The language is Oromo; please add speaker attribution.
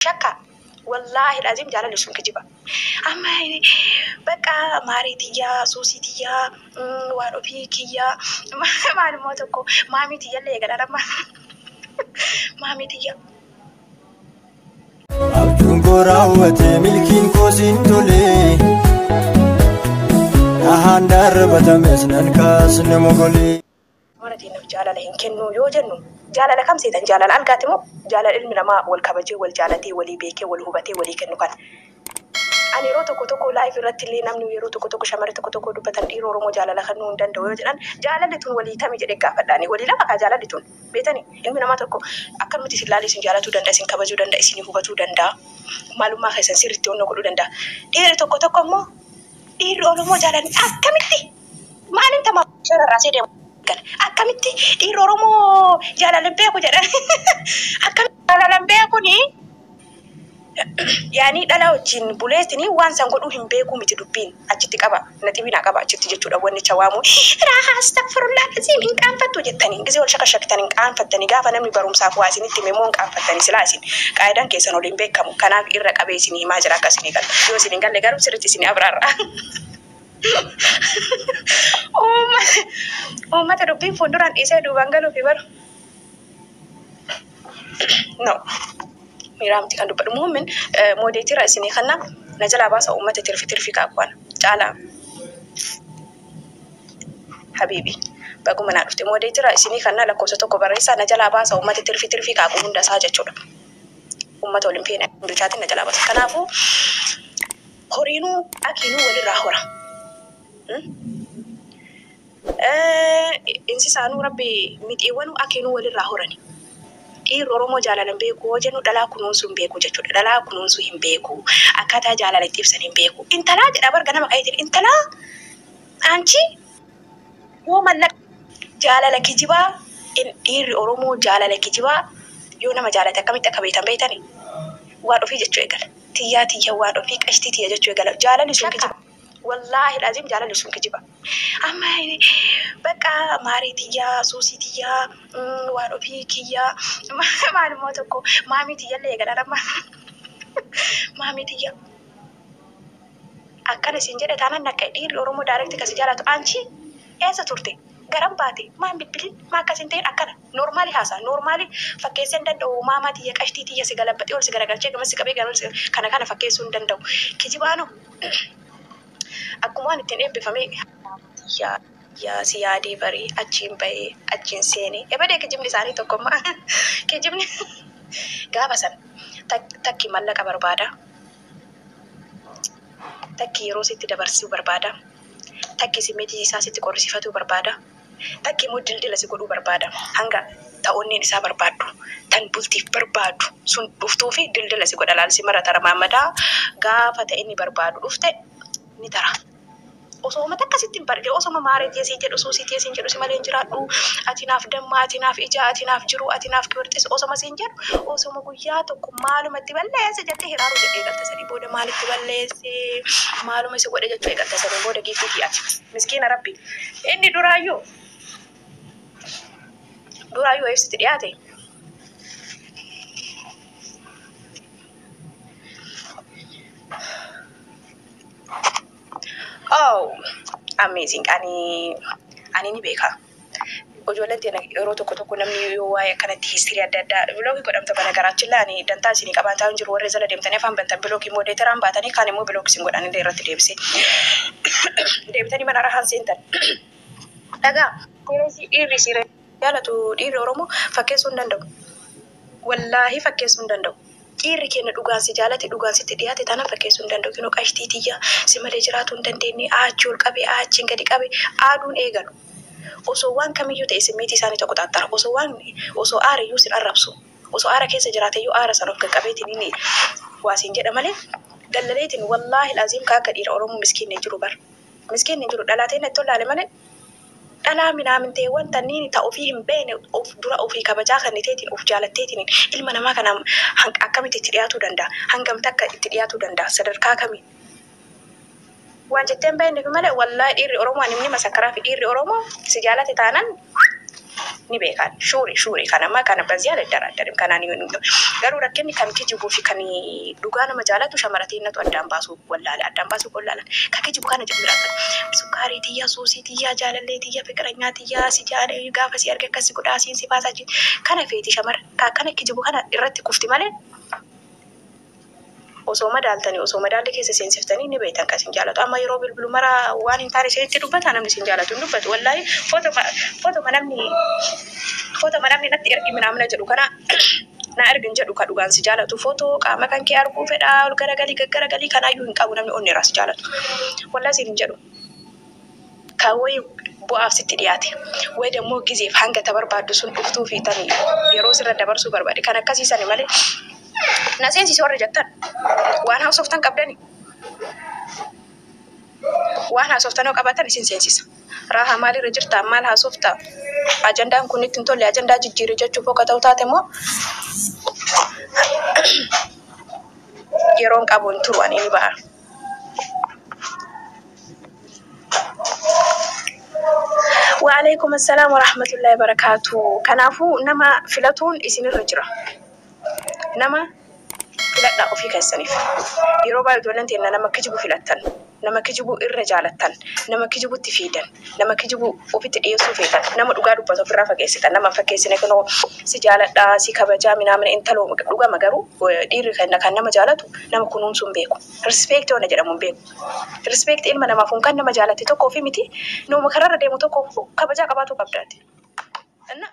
Speaker 1: Shakka wallaahi laziim jaalalli sun kijiba amma bakka maarii tiyyaa suusii tiyyaa waan ofii kiyyaa maal immoo tokko maamii tiyyallee eegalaan amma maamii tiyyaa.
Speaker 2: Abjuun koo raawwate milkiin koo siin tole Dhahaan darabatames nan kaasne mogolee. Mana teennaaf
Speaker 1: jaalala hin kennuu yoo jennu jaalala kam seetan? Jaalala algaati moo jaalala ilmi namaa wal kabajee, wal jaalatee, walii beekee, wal hubatee walii kennu kana? Ani yeroo tokko tokko live irratti illee namni yeroo tokko tokko shamarri tokko tokko dubbatan dhiira Oromoo jaalala kannuu hin danda'u yoo jedhan jaalalli tun walii tami jedhee gaafadha ani. Walii lama kaa jaalalli tun beetani? Ilmi namaa tokko akkanumatti isin laalee isin jaalatuu danda'a, isin kabajuu danda'a, isinii hubatuu danda'a, maalummaa keessan sirriitti onnoo godhuu danda'a. Dhiirri tokko tokko immoo dhiirri Oromoo jaalalli akkamitti Maaliin tamaa shara irraa see deemu gala. Akkamitti dhiirri Oromoo jaalala beeku jedhan. Akkamitti jaalala beekuni yaanii dhala wajjin buleetini waan san godhuu hin beekuu miti dubbiin achitti qaba naxibii naa qaba achitti jechuudha wannicha waamuu raahaa astagfirullaa laziim hin qaanfattu jettanii gizee wal shakashaktan hin qaanfattanii gaafa namni barumsaaf waa isinitti hime immoo hin qaanfattanii silaa isin qaayidaan keessan waliin beekamu kanaaf irra qabee isinii himaa jira akka isinii galu yoo isin hin galle garuu sirritti isinii abraarra. Uummata dubbiin fuulduraan dhiisee duubaan galuufi baru. No. Miiraa miti kan dubbadhu. Muummin moodeetiirra isinii kanna na jalaa baasa uummata tirfi tirfi kaakwana. Caalaa. Habiibi. Baguma naa dhufte moodeetiirra isinii kanna lakkoofsa tokko barreessaa na jalaa baasa uummata tirfi tirfi kaaqu hundasaa jechuudha. Uummata waliin feena duchaatiin na jalaa baasa. Kanaafuu Horiinuu dhakiinuu wal irraa hora. Insisaanuu rabbi mixiiwwanuu akiinuu wal irraa horani. Dhiirri Oromoo jaalalan beeku hoo jennu dhalaa kunuunsuu hin beeku jechuudha. Dhalaa kunuunsuu hin beeku. Akkaataa jaalala itti ibsan hin beeku. Intalaa jedha bar ganama ka'eetiin intalaa anchii. Woman lak jaalala kijibaa in dhiirri oromoo jaalala kijibaa yoo nama jaalate akkamitti akka beetan beetani waan ofii jechuu eegala tiyyaa tiyya waan ofii qashtii tiyya jechuu eegala jaalalli sun kijiba wallaahi laazim jaalalli sun kijiba amma bakka maarii tiyyaa suusii tiyyaa mm, waan ofii kiyyaa maal immoo tokko maamii tiyyallee eegala nama maamii tiyya Akkana siin jedhe taanan nakka'e dhiirri oromoo direct ka si jaalatu anchi eessa turte garam baate maa hin bilbilin maa akkas hin ta'in akkana normally haasa'a normally fakkeessee hin danda'u maamaa tiyya qashtii tiyya si galabbaxee ol si garagalchee gamas si qabee gamas kana kana fakkeessuu hin danda'u kijibaanoo akkuma waan ittiin eebbifamee maamaa tiyya yaa si yaadee baree achiin bahee achiin seenee ebadee kijibni isaanii tokko amma kijibni gaafa san takki mallaqa barbaada Takki yeroo sitti dabarsiu barbaada. Takki simmetii isaa sitti qorrisifatuu barbaada. Takki immoo dildila si godhuu barbaada. Hanga ta onneen isaa barbaaddu, tan bultiif barbaadu sun dhuftuufi dildila si godha laal si marata ramaammadaa gaafa ta inni barbaadu dhufte ni tara. Osoo uummata akkasitti hin barre, osoo ma maaree tee siin jedhu, suusii tee siin jedhu, si malee hin jiraadhu, ati naaf damma, ati naaf ija, ati naaf jiruu, ati naaf kiwirxis osoma siin jedhu, osoma guyyaa tokko maaluma itti balleesse jettee hiraaruu jettee eegalta sanii booda maal itti balleesse, maaluma isa godhe jechuu eegalta sanii booda Giiftiitii ati miskiina rabbi inni duraayyuu duraayyuu wayiif sitti dhiyaate Oh, amazing. Ani ani ni beeka. Ijoolleen teena yeroo tokko tokko namni yoo waa'ee akkanatti histirii adda addaa biloogii godhamta bana garaachilla ani dantaa isinii qabaan taa'u hin jiru warri zala deemtanii afaan bantan biloogii immoo deeteraan baatanii kaan immoo biloogii isin godhan illee irratti deebisee deebitanii mana rahaan seentan. Dhagaa. Dhiirri siree. jaalatu dhiirri oromoo fakkeessuu hin danda'u wallaahi fakkeessuu hin danda'u dhiirri keenya dhugaan si jaalate dhugaan sitti dhiyaate taana fakkeessuu hin danda'u kinoo qashtii tiyya si malee jiraatuu hin dandeenye aachi ol qabe aachiin gadi qabe aaduun eegalu osoo waan kamiyyuu ta'e simmiitii isaanii tokko xaaxxara osoo waan osoo aara iyyuu sin arrabsu osoo aara keessa jiraate iyyuu aara san of qaqqabeetiin inni waasiin jedha malee dallaleetiin wallaahi aziim kaa akka dhiira oromoo miskiinni hin jiru bar miskiinni hin jiru dhalaateen itti ollaale malee Dhalaa minaamintee wanta nini ta ofii hin beene of dura ofii kabajaa kaniteetiin of jaalatteetiniin ilma namaa kana hang akkamitti itti dhiyaatuu danda'a? Hangam takka itti dhiyaatuu danda'a? Sadarkaa kamiin? Waan jettee hin beekneefi malee wallahi dhiirri Oromoo ani ni masakkaraafi dhiirri Oromoo si jaalate taanan ni beekaan shuuri shuuri kana ma kana bazii aladaraadarim kanaan garuu rakkinni kan kijibuufi kan dhugaa nama jaalatu shamara teennatu addaan baasuu Wallaale addaan baasuu koo ilaalaa Ka kijibu kana jedhu biraa qabu Sukkaarii tiyya suusii tiyya Jaalallee tiyya fiqiranyaa tiyya Si jaale gaafa si arge akkas si godha Asiin si baasa achiin Kana feeti shamara Ka akkana kijibu kana irratti kufti malee Osoo madaaltani osoo madaalli keessa seensiftani ni beeytan ka isin jaalatu Amma yeroo bilbilu mara waan hin taane isinitti dubbata namni isin jaalatu hin dubbatu Wallahi fotoma fotoma namni fotoma namni natti ergi minaamna jedhu kana Naa ergi hin jedhu ka dhugaan si jaalatu photo qaama kan kee arguu fedha ol garagalii gaggaragalii kanaayyuu hin qabu namni onneerraa si jaalatu wallahi siin hin jedhu ka way bu'aaf sitti dhiyaate way dammoo gizeef hanga ta barbaaddu sun dhuftuu fi tani yeroo sirra dabarsuu barbaade kan akkasii sani malee na seensisi warri jettan waan haasoftan qabdani waan haasoftanoo qabaatan isin seensisa. Raaha maalirra jirta? Maal haasofta? Ajandaan kun itti hin tolle ajandaa jijjiiri jechuuf akka ta'u taate immoo yeroon qabu hin turu ani ni ba'a. Waalaikum assalam warahmatullahi wabarakatuh. Kanaafuu nama filatuun isinirra jira. Nama filadhaa ofii keessaniif yeroo baay'ee ijoolleen teenna nama kijibu filattan nama kijibu irra jaalattan nama kijibutti fiidan nama kijibu ofitti dhiyeessuu feetan nama dhugaa dubbatu ofirraa fageessitan nama hin fakkeessine kunoo si jaaladhaa si kabajaa minaamina intaloo dhugama garuu eh, dhiirri kenna kan nama jaalatu nama kunuunsuun beeku rispeekti ona jedhamuun beeku rispeekti ilma namaaf kun kan nama jaalatte tokko ofii miti nama kararra deemu tokko kabajaa qabaatuu qabdaati. Inna-